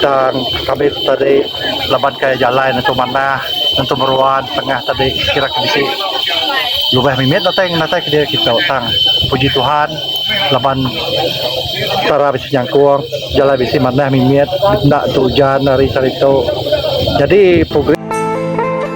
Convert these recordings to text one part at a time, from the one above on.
tang kami tu tadi laban kai jalai nentu manah nentu meruan tengah tadi kira ke bisi lubeh mimit datai natai ke diri kita tang puji Tuhan laban tara bisi nyangkong jalai bisi manah mimit enda tu ujan hari sehari tu jadi program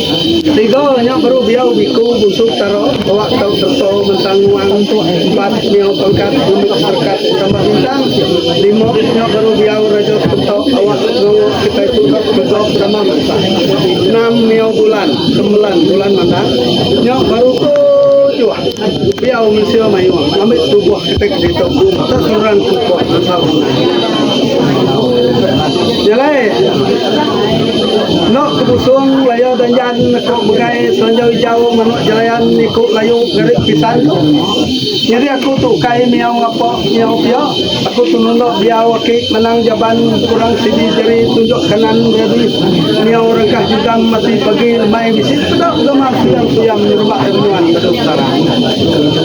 Tiga nya baru biau biku busuk tara bawa tau serta ngentang nuang empat miau pangkat lembik serkat tambah bintang lima nya baru biau raja serta awak ngawa kitai puka begob sama mansah enam miau bulan sembilan bulan mandak nya baru tujuh biau mensia mayuh ambi tubuh kitai ke ditu tak terang kukuh asal menang. Jalai. Eno ke busung laya danjan aku begai selanjau ijau manok jelayan iku layu ngarit pisan tu. Nyadi aku tu ukai miau ngapa miau pia, aku tu nunda diau aki manang jaban kurang sidi jari tunjuk kanan nyadi miau rengkah jugam ati pagi lemai bisi peda begamar kuyang-kuyang nyerubak ari nuan meda utara.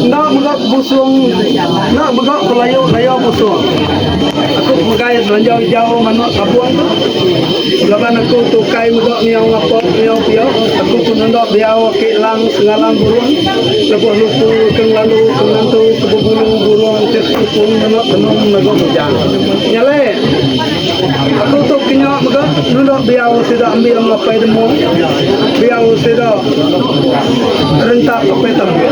Enda mega ke busung enda mega ke layu laya busung. Aku megai selanjau ijau manok sabung tu. Laban aku tu kai mega miau ngapa miau pia, aku pun enda diau aki lang sengalang burung lebuh luku ke ngelalu ke ngantu ke bebulu burung ke tu pun mene tenung mega bujang. Nyalai aku tu ke nya mega nunda biau sida ambing apai demu biau sida rentak apai tambik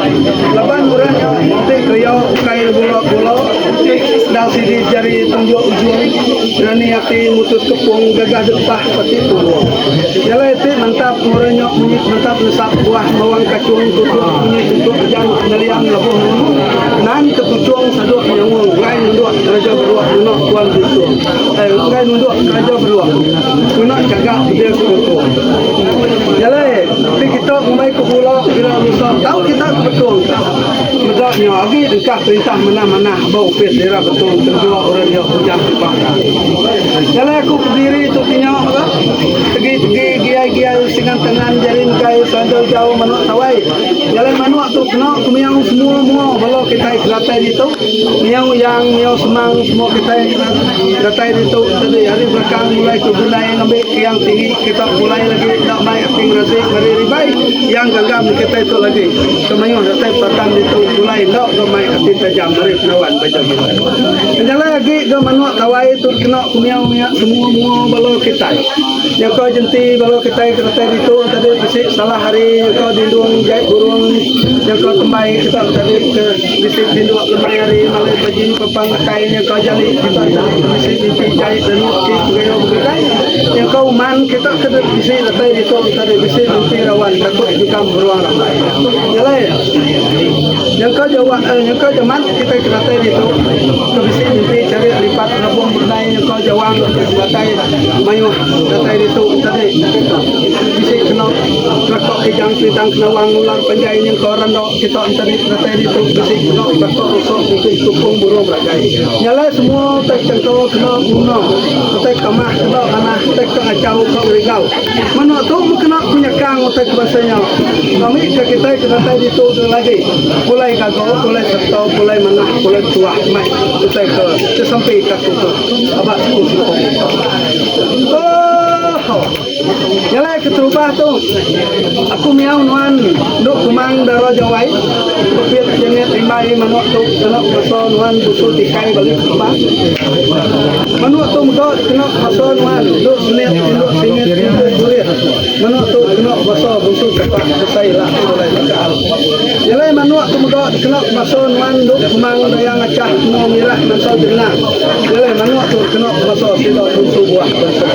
laban orang nya ti keria ukai gula-gula. Tik sedar sigi jari penunjuk ujung nani ati mutus kepung gaga depah peti puru. Jalai ti mantap murai nyok munyi sementap nesap buah bawang kachung tutuk munyi tutuk ujan neliang lebuh nemu nan tepuchung saduk nyaung enggai nunduk keraja beruk ngena tuan bintu eh enggai nunduk keraja beruk ngena gaga dia sekuku. Jalai ti kita ngumbai ke bula bila lusa tau kita ke betung. Meda nya agi engkah perintah manah-manah ba opis Daerah Betong Tenggua orang dia Ujang Tubang ka. Jalai aku ke diri tu ti nya ka. Tegi-tegi giai-giai singan tengan jari engkai selanjau jau manuk tawai. Jalai manuk tu kena ku miau semua mua bala kitai ke datai ditu. Miau Yang, miau Semang semua kitai ke datai ditu tadi ari belakang mulai ke Bunai ngambi ke Yang Tinggi kita mulai lagi enda mai. Ti ngerati meri ribai iya enggangga meri kitai tu lagi. Temayuh datai petatan ditu pulai enda ga mai ati tajam meri penawan baja mila. Penjalai agi ga manuk tawai tu dikena pemiau mia semua mua bala kitai. Nyaka jenti bala kitai ke datai ditu tadi bisi salah hari nyaka dindung jai burung nyaka tembai kita tadi ke bisi tinduk lemai hari malai pagi pepang akai nyaka jali kita tadi bisi mimpi jai danu ti pegayau begadai. Nyangka uman kita ke dep bisi datai ditu enta deh bisi nempi rawan takut jikam beruang rambai. Nyalai ya. Nyangka jawa eh, nyangka jaman kita ke datai ditu ke bisi mimpi cari lipat rabung bernai nyangka jawang ke datai mayuh datai ditu enta deh bisi kena rakok kijang pintang kenawang ular panjai nyangka randok. Kita enteri penatai ditu bisi guna baka rusa mungkin sukung burung belagai. Nya alai semua utai chengka kena guna, utai kamah kena tanah, utai ke achau ka ngerigau. Menoa tu meh kena ku nyekang utai ke bansa nya. Ami ke kitai ke datai ditu deh lagi pulai gaga, pulai serta, pulai manah, pulai betuah mai utai ke sesempi ka tu tu. Aba sukung-sukung. Ohh. Ngelai keterubah tu, aku miau nuan endu kumang dara jawai, Pepit Janet Rimbai manuk tu kena kuasa nuan busu tikai balik keterubah. Manuk tu mega kena kuasa nuan endu senit tinduk singit tungku kurit, manuk tu kena kuasa busu sepak besai ila sekulai takal. Ngelai manuk tu mega kena kuasa nuan endu kumang daya ngachah temu mirak nansal jengenang. Ngelai manuk tu kena kuasa sida busu buah bensuk.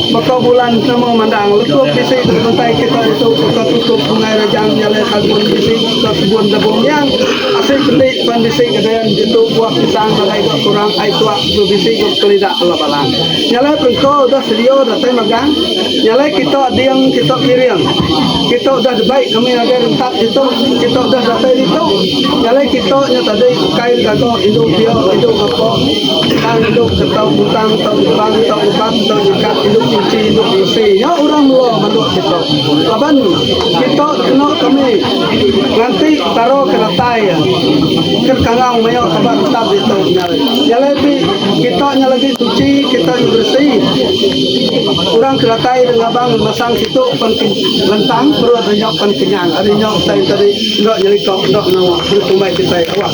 Baka bulan nama mandang lekup bisi dibentai kita ditu baka tutup Sungai Rejang nyalai sagun bisi baka kebun Debong Nyang asai peti pan bisi gaden ditu buah pisang nadai ga kurang ai tuak tu bisi ga kelida bela balang nyalai perengko udah sedio datai magang nyalai kita ding kita piring kita udah debai kami ngagai rentap ditu kita udah datai ditu nyalai kita nya tadi ukai gaga indu pia indu ngapa. Tang idup ke tau ngutang tau ngebang tau ngebang tau nyekap idup nyuci idup bisi nya orang melo melu kita laban kita kena kami nganti taro ke datai iya ke kangau mayo tebak tetap ditu nya alai nya alai ti kita nya lagi suci kita nya beresi orang ke datai ida ngabang masang situ pen lentang perut nya pen kenyang ari nya utai tadi enda nyelika enda ngawa enda tumbai kitai awak.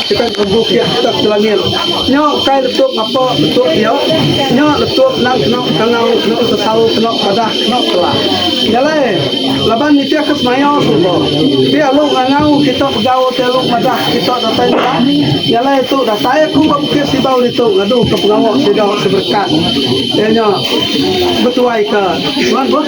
Kitai perebu kiah kitak ke langit. Nya kai letup ngapa bentuk iya. Nya letup endang kena kangau, kena sesau, kena padah, kena telah. Nya alai, laban nitihka semaya serba. Ti alu ngangau kita begau, ti alu madah kita datai nengah. Nya alai tu datai aku ba Bukit Sibau ditu ngaduka pengawa sida seberekat iya nya betuaika nuan boh.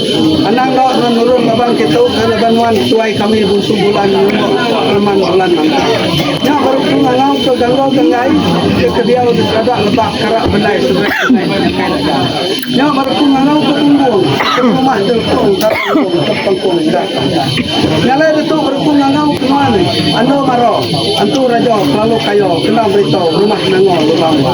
Anang enggau nuan nulung laban ke tau ke laban nuan tuai kami bungsu bulan nyungok reman bulan manta. Nya baru ku ngangau ke gangau ganggai ke ke diau di serada lebak kara bendai sungai sungai ti ngagai dagang. Nya baru ku ngangau ke bumbung ke rumah jelpong kara enggong ke pengkong enda tanda. Nya alai ditu baru ku ngangau ke nuan andu maro antu rajo kelalu kayo kena beritau rumah nangor lubang ba.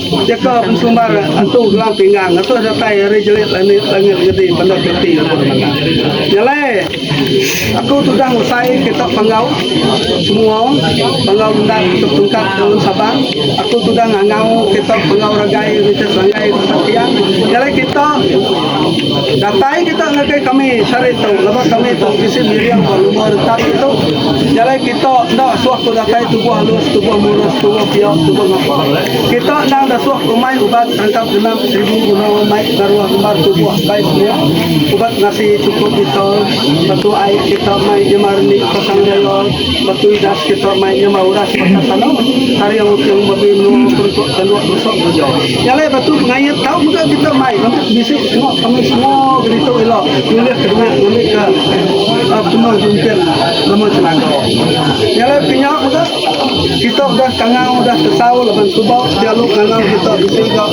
Jaka Bensumbar Entu Gelang Pinggang Atuh Datai Ari Jelit Langit Langit Gedi Bandar Piti Lebuh Menengah Nyalai Aku Tudah Ngusai Kitak Panggau Semua Panggau Endang Kitak Tungkat Dalam Sabang Aku Tudah Ngangau Kitak Panggau Ragai Richard Sanggai Tempat Tiang Nyalai Kitak Datai Kitak Ngagai Kami Sehari Tu Lebuh Kami Tu Bisi Miring Ba Luma Retap Itu Nyalai Kitak Enda Suah Ku Datai Tubuh Alus Tubuh Murus Tubuh Piak Tubuh Ngapa. Kita endang datuk rumai ubat tangkap genap seribu guna mai ngaruh ngembar tubuh bai semua ubat ngasi chukup kita batu ai kita mai nyema rendi pasang raya batu idas kita mai nyema uras pasal tanah taring ukung babi menua perengkuk tanduk tusuk beruja nya alai batu pengait tau mega kita mai ngambi bisi semua kami semua gelituk ila nulih ke dengah ngambi ke penua jumping nama chelaka nya alai pinya mega Kita udah tangau udah tesau laban suba dialu ngangau kita bisi ga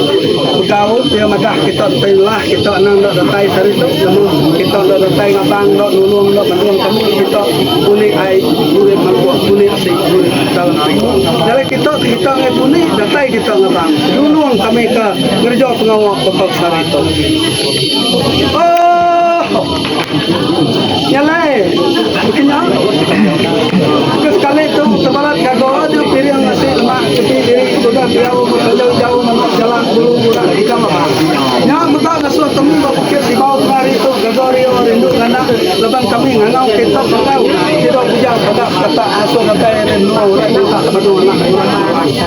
begaul iya madah kita ti lah kita anang enda datai sehari tu lalu kita enda datai ngabang enda nulung enda mendung temu kita puni ai urip mampus puni ti urip tau nai. Nyadi kita ti kita ngai puni datai kita ngabang nulung kami ka ngereja pengawa baka sehari tu. Oohh. Nyalai bisi nya. Ke sekali tu tebalat gaga nya piring nasi lemak sepi diri tudah diau bekeleu jauh menoh jalak bulu burak ikam ba. Nya mega ngasuh kami ba Bukit Sibau tengah hari tu gaga rio rindu nganak laban kami ngangau kereta bengkau sida bujang padah bekatak ngasuh datai ari menua orang nyungkak padu anak orang.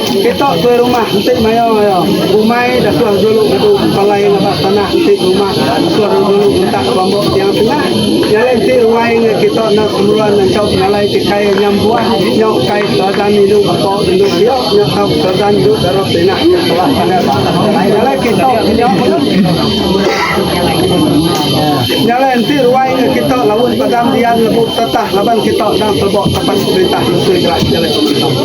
Kita tuai rumah enti maya iya bumai datuh julu ngedu empalai ngaba tanah enti berumah datuh julu ngentak bambu tiang tengah nyalai enti ruai ngai kita enda kemeruan nganchau pengalai ti kai nya embuan nyau kai terajan indu baka indu bio nya tau terajan indu dara terinah nya telah sangat nyalai kita nya nyalai enti ruai ngai kita laun padam dian lebuh tetah laban kita endang teleba kapas perintah menteri jelas nyalai pemerintah.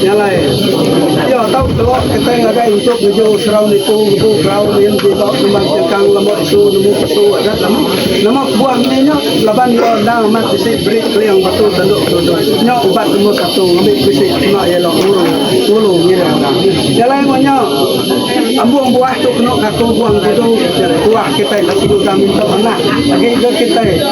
Jalai. Iya tau telok ketai ngagai entuk ngeju serau nipu ngebu kerau nin ti ba Kumbang Chengkang lama isu nemu pesu adat lama. Nama kebuah meni nya laban iya endang amat bisi beri keling batu tanduk Tundoi. Nya ubat nombor satu ngambi bisi kena iya ila ngulu ngulu ngiring endang. Jalai enggau nya ambung buah tu kena ngaku guang tudu tuah kitai disiku dang minta manah agi ga kitai.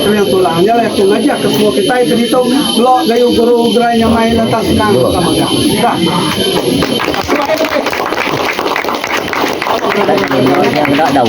Kenyang tu lah, nya lah aku ngajar ke semua kitai ke ditu, kelo gayu guru gerai nyamai lantang senang ka mega. Dah. Dah dau.